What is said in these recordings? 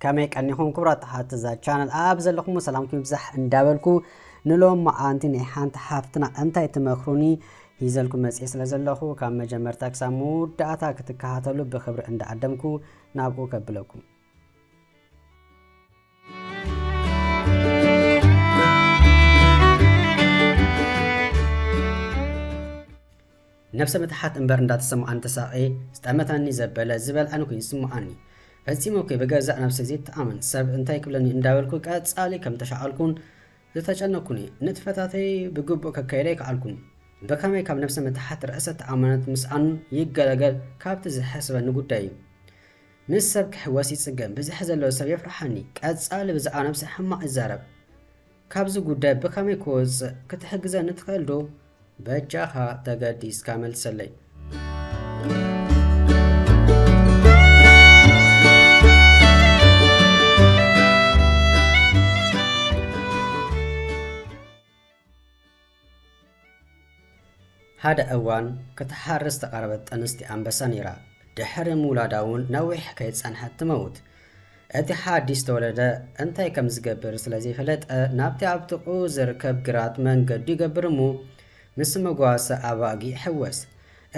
ከመይ ቀኒኹም ክብራት ሓቲ እዛ ቻነል ኣብ ዘለኹም ሰላምኩም ይብዛሕ እንዳበልኩ ንሎም መዓንቲ ናይ ሓንቲ ሓፍትና እንታይ ትመክሩኒ ሂዘልኩም መፅኤ ስለ ዘለኹ ካብ መጀመርታ ክሳብ መወዳእታ ክትከታተሉ ብክብሪ እንዳዓደምኩ ናብኡ ከብለኩም ነብሰ ምትሓት እምበር እንዳተሰማዓኒ ተሳቕየ ዝጠመተኒ ዘበለ ዝበልዐኒ ኮይኑ ዝስምዓኒ ፈጺመ እኮ ብገዛእ ነብሰይ ዘይተኣመን ሰብ እንታይ ክብለኒ እንዳበልኩ ቀጻሊ ከም ተሻቐልኩን ዝተጨነኩኒ ንጥፈታተይ ብግቡእ ከካየደ ኣይከኣልኩን ብከመይ ካብ ነብሰ ምትሓት ርእሰ ተኣማንነት ምስኣን ይገለገል ካብቲ ዝሐስበኒ ጉዳይ እዩ ምስ ሰብ ክሕወስ ይጽገም ብዝሕ ዘለዎ ሰብ የፍርሓኒ ቀጻሊ ብዛዕባ ነብሰይ ሕማቅ ይዛረብ ካብዚ ጉዳይ ብከመይ ክወጽእ ክትሕግዘኒ ትክእል ዶ በጃካ ተገዲስካ መልሰለይ። ሓደ እዋን ክትሓሪ ዝተቐረበት ጥንስቲ ኣንበሳ ነይራ። ድሕሪ ምውላዳ'ውን ነዊሕ ከይጸንሐት ትመውት። እቲ ሓዲስ ዝተወለደ እንታይ ከም ዝገብር ስለ ዘይፈለጠ ናብቲ ኣብ ጥቕኡ ዝርከብ ግራት መንገዱ ይገብር እሞ ምስ መጓሰ ኣባጊ ይሕወስ።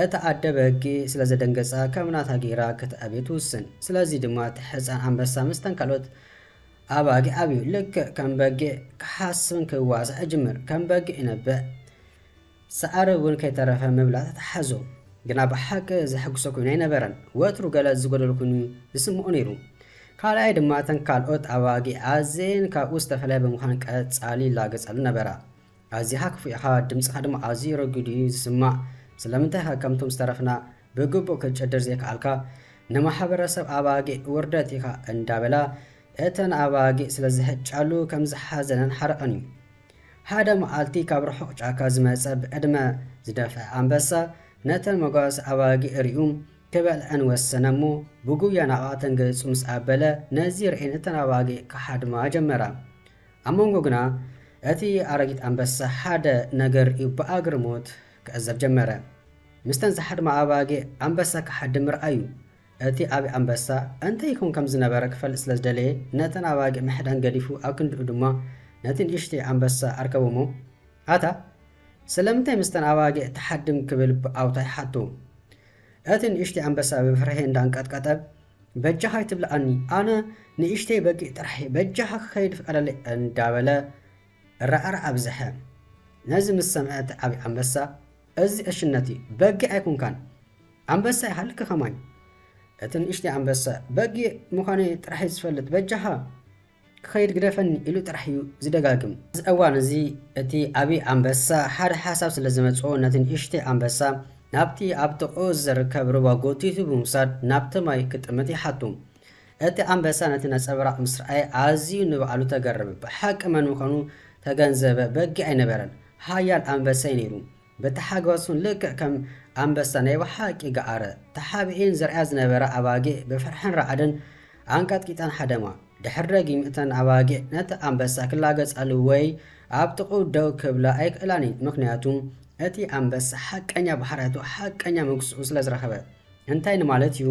እታ ኣደ ብህጊ ስለ ዘደንገጻ ከም ናታ ገይራ ክትዕብዮ ትውስን። ስለዚ ድማ እቲ ሕጻን ኣንበሳ ምስተን ካልኦት ኣባጊዕ ኣብዩ ልክዕ ከም በጊዕ ክሓስብን ክዋሳእ ይጅምር ከም በጊዕ ይነብዕ ሳዕሪ እውን ከይተረፈ ምብላዕ ተታሓዞ ግና ብሓቂ ዘሕጉሶ ኮይኑ ኣይነበረን ወትሩ ገለ ዝጎደሎ ኮይኑ ዝስምዖ ነይሩ ካልኣይ ድማ እተን ካልኦት ኣባጊዕ ኣዝየን ካብኡ ዝተፈለያ ብምዃን ቀጻሊ ይላገጻሉ ነበራ ኣዚኻ ክፉእ ኢኻ ድምጽኻ ድማ ኣዝዩ ረጒድ እዩ ዝስማዕ ስለምንታይ ኢኻ ከምቶም ዝተረፍና ብግቡእ ክትጭድር ዘይከኣልካ ንማሕበረሰብ ኣባጊዕ ውርደት ኢኻ እንዳበላ እተን ኣባጊዕ ስለዝህጫሉ ከምዝሓዘነን ሓረቐን እዩ። ሓደ መዓልቲ ካብ ርሑቕ ጫካ ዝመጸ ብዕድመ ዝደፍኣ ኣንበሳ ነተን መጓሰ ኣባጊዕ ሪኡ ክበልዐን ወሰነ እሞ ብጉያ ናብኣተን ገጹ ምስ ኣበለ ነዚ ርኤን እተን ኣባጊዕ ክሓድማ ጀመራ። ኣብ መንጎ ግና እቲ ኣረጊት ኣንበሳ ሓደ ነገር ሪኡ ብኣግርሞት ክዕዘብ ጀመረ። ምስተን ዝሓድማ ኣባጊዕ ኣንበሳ ክሓድም ምርኣዩ። እቲ ኣቢ ኣንበሳ እንተ ይከውን ከም ዝነበረ ክፈልጥ ስለ ዝደለየ ነተን ኣባጊዕ ምሕዳን ገዲፉ ኣብ ክንድኡ ድማ ነቲ ንእሽተይ ኣንበሳ ኣርከቦሞ ኣታ ስለምንታይ ምስተን ኣባጊዕ ትሓድም ክብል ብኣውታይ ሓቶ። እቲ ንእሽተይ ኣንበሳ ብፍርሒ እንዳ ኣንቀጥቀጠ በጃኻ ኣይትብልኣኒ ኣነ ንእሽተይ በጊዕ ጥራሕየ በጃኻ ክኸይድ ፍቀደለይ እንዳ በለ እራዕራዕ ኣብዘሐ ነዚ ምስ ሰምዐ እቲ ዓብዪ ኣንበሳ እዚ ዕሽነት እዩ በጊዕ ኣይኮንካን ኣንበሳ ይሃልኪ ከማይ እቲ ንእሽተይ ኣንበሳ በጊዕ ምዃነይ ጥራሕ እዩ ዝፈልጥ በጃኻ ክኸይድ ግደፈኒ ኢሉ ጥራሕ እዩ ዝደጋግም። ኣብዚ እዋን እዚ እቲ ዓብዪ ኣንበሳ ሓደ ሓሳብ ስለ ዝመፅኦ ነቲ ንእሽተይ ኣንበሳ ናብቲ ኣብ ጥቕኡ ዝርከብ ሩባ ጎቲቱ ብምውሳድ ናብቲ ማይ ክጥምት ይሓቱ። እቲ ኣንበሳ ነቲ ነጸብራቕ ምስ ረኣየ ኣዝዩ ንባዕሉ ተገረመ። ብሓቂ መን ምዃኑ ተገንዘበ፣ በጊዕ ኣይነበረን፣ ሓያል ኣንበሳ'ዩ ነይሩ። በቲ ሓጐሱን ልክዕ ከም ኣንበሳ ናይ ብሓቂ ገዓረ። ተሓቢኤን ዝርእያ ዝነበራ ኣባጊዕ ብፍርሕን ራዕድን ኣንቀጥቂጠን ሃደማ። ድሕሪ ደጊም እተን ኣባጊዕ ነቲ ኣንበሳ ክላገጻሉ ወይ ኣብ ጥቕኡ ደው ክብላ ኣይክእላን'የን፣ ምኽንያቱ እቲ ኣንበሳ ሓቀኛ ባህርያቱ፣ ሓቀኛ መግስኡ ስለ ዝረኸበ። እንታይ ንማለት'ዩ?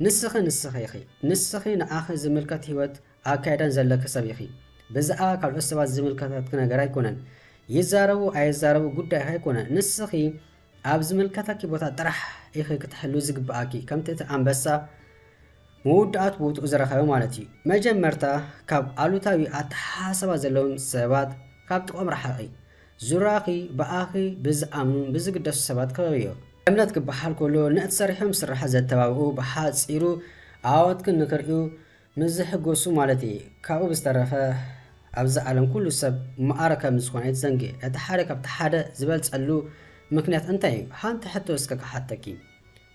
ንስኺ ንስኺ ኢኺ። ንስኺ ንኣኺ ዝምልከት ህይወት ኣካይዳን ዘለኪ ሰብ ኢኺ። ብዝኣባ ካልኦት ሰባት ዝምልከተኪ ነገር ኣይኮነን። ይዛረቡ ኣይዛረቡ ጉዳይኺ ኣይኮነን። ንስኺ ኣብ ዝምልከተኪ ቦታ ጥራሕ ኢኺ ክትሕልዊ ዝግብኣኪ። ከምቲ እቲ ኣንበሳ መወዳእቱ ቦትኡ ዝረኸበ ማለት እዩ። መጀመርታ ካብ ኣሉታዊ ኣተሓሳሰባ ዘለዎም ሰባት ካብ ጥቕኦም ርሓቒ። ዙርያኺ ብኣኺ ብዝኣምኑን ብዝግደሱ ሰባት ክበብዮ። እምነት ክበሃል ከሎ ነቲ ሰሪሖም ዝስራሕ ዘተባብዑ፣ ብሓጺሩ ዓወትክን ንክርእዩ ምስ ዝሕጎሱ ማለት እዪ። ካብኡ ብዝተረፈ ኣብዚ ዓለም ኩሉ ሰብ መኣረ ከም ዝኾነ ኣይትዘንግዒ። እቲ ሓደ ካብቲ ሓደ ዝበልጸሉ ምክንያት እንታይ እዩ? ሓንቲ ሕቶ እስከ ክሓተኪ።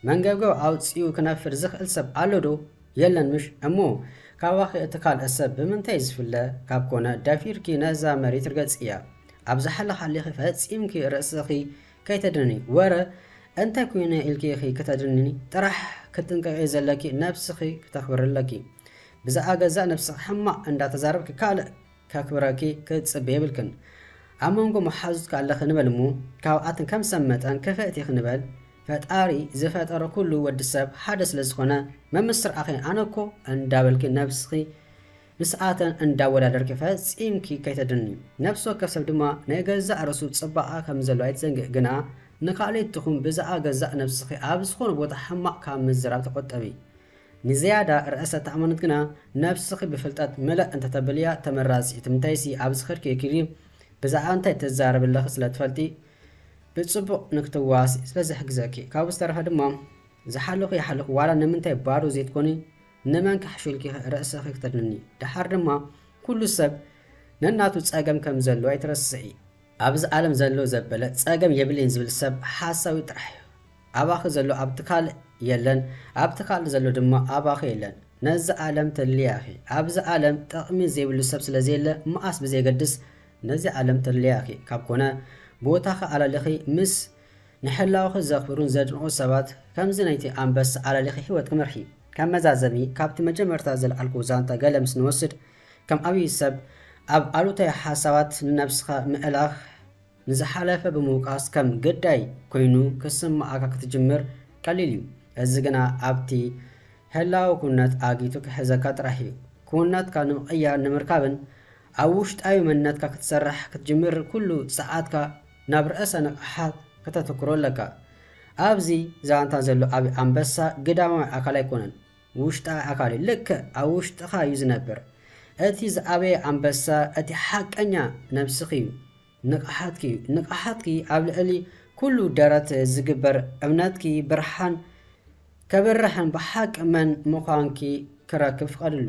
መንገብገብ ኣውጺኡ ክነፍር ዝኽእል ሰብ ኣሎ ዶ? የለን ምሽ? እሞ ካባኺ እቲ ካልእ ሰብ ብምንታይ ዝፍለ? ካብ ኮነ ደፊርኪ ነዛ መሬት ርገጽያ። ኣብ ዝሓለኻሊኺ ፈጺምኪ ርእስኺ ከይተድንኒ። ወረ እንታይ ኮይነ ኢልኪ ኢኺ ክተድንኒ? ጥራሕ ክትጥንቀቂ ዘለኪ ነብስኺ ክተኽብሪ ኣለኪ። ብዛእባ ገዛእ ነብስኺ ሕማቕ እንዳ ተዛረብኪ ካልእ ከክብረኪ ክትጽበይ የብልክን። ኣብ መንጎ መሓዙትኪ ኣለኺ ንበል እሞ ካብኣተን ከም ሰብ መጠን ክፍእቲ ኢኺ ንበል። ፈጣሪ ዝፈጠረ ኩሉ ወዲ ሰብ ሓደ ስለ ዝኮነ መምስርዓኺ ኣነ እኮ እንዳበልኪ ነብስኺ ምስኣተን እንዳወዳደርኪ ፈጺምኪ ከይተድኒ ነብሲ ወከፍ ሰብ ድማ ናይ ገዛእ ርእሱ ጽባቀ ከም ዘለዎ ኣይትዘንግዒ ግና ንካልኢት ትኹን ብዛኣ ገዛእ ነብስኺ ኣብ ዝኮነ ቦታ ሕማቅ ካብ ምዝራብ ተቆጠቢ ንዝያዳ ርእሰ ተኣማንነት ግና ነብስኺ ብፍልጠት ምለእ እንተተብልያ ተመራጺ እዩ ትምንታይሲ ኣብዚ ከድኪ እኪሊ ብዛኣ እንታይ ትዛረቢ ኣለኺ ስለ ትፈልጢ ብጽቡቅ ንክትዋስኢ ስለ ዝሕግዘኪ ካብኡ ዝተረፈ ድማ ዝሓለኩ ይሓለኩ ዋላ ንምንታይ ባዶ ዘይትኮኒ ንመን ክሕሹልኪ ርእስኪ ክተድንኒ ደሓር ድማ ኩሉ ሰብ ነናቱ ጸገም ከም ዘለዎ ኣይትረስዒ ኣብዚ ኣለም ዘሎ ዘበለ ጸገም የብለይን ዝብል ሰብ ሓሳዊ ጥራሕ እዩ ኣባኪ ዘሎ ኣብቲ ካልእ የለን ኣብቲ ካልእ ዘሎ ድማ ኣባኪ የለን ነዛ ኣለም ተድልያ ኢኪ ኣብዚ ኣለም ጠቅሚ ዘይብሉ ሰብ ስለ ዘየለ መኣስ ብዘየገድስ ነዚ ዓለም ተልልያ ኢኺ ካብ ኮነ ብወታኺ ኣላሊኺ ምስ ንሕላወኺ ዘኽብሩን ዘድንቑን ሰባት ከምዚ ናይቲ ኣንበሳ ኣላሊኺ ሂወትኪ ምርሒ። ከም መዛዘሚ ካብቲ መጀመርታ ዘልዓልክዎ ዛንታ ገለ ምስ ንወስድ ከም ኣብይ ሰብ ኣብ ኣሉታዊ ሓሳባት ንነብስኻ ምእላኽ ንዝሓለፈ ብምውቃስ ከም ግዳይ ኮይኑ ክስመዓካ ክትጅምር ቀሊል እዩ እዚ ግና ኣብቲ ህላወ ኩነት ኣጊቱ ክሕዘካ ጥራሕ እዩ ኩውንነትካ ንምቕያር ንምርካብን ኣብ ውሽጣዊ መንነትካ ክትሰርሕ ክትጅምር ኩሉ ጸዓትካ ናብ ርእሰ ንቕሓት ከተትኩሮ ኣለካ። ኣብዚ ዛንታ ዘሎ ዓቢ ኣንበሳ ግዳማዊ ኣካል ኣይኮነን ውሽጣዊ ኣካል እዩ ልክዕ ኣብ ውሽጥኻ እዩ ዝነብር። እቲ ዝዓበየ ኣንበሳ እቲ ሓቀኛ ነብስኺ እዩ ንቕሓትኪ እዩ። ንቕሓትኪ ኣብ ልዕሊ ኩሉ ደረት ዝግበር እምነትኪ ብርሃን ከብርሕን ብሓቂ መን ምዃንኪ ክረክብ ፍቐድሉ።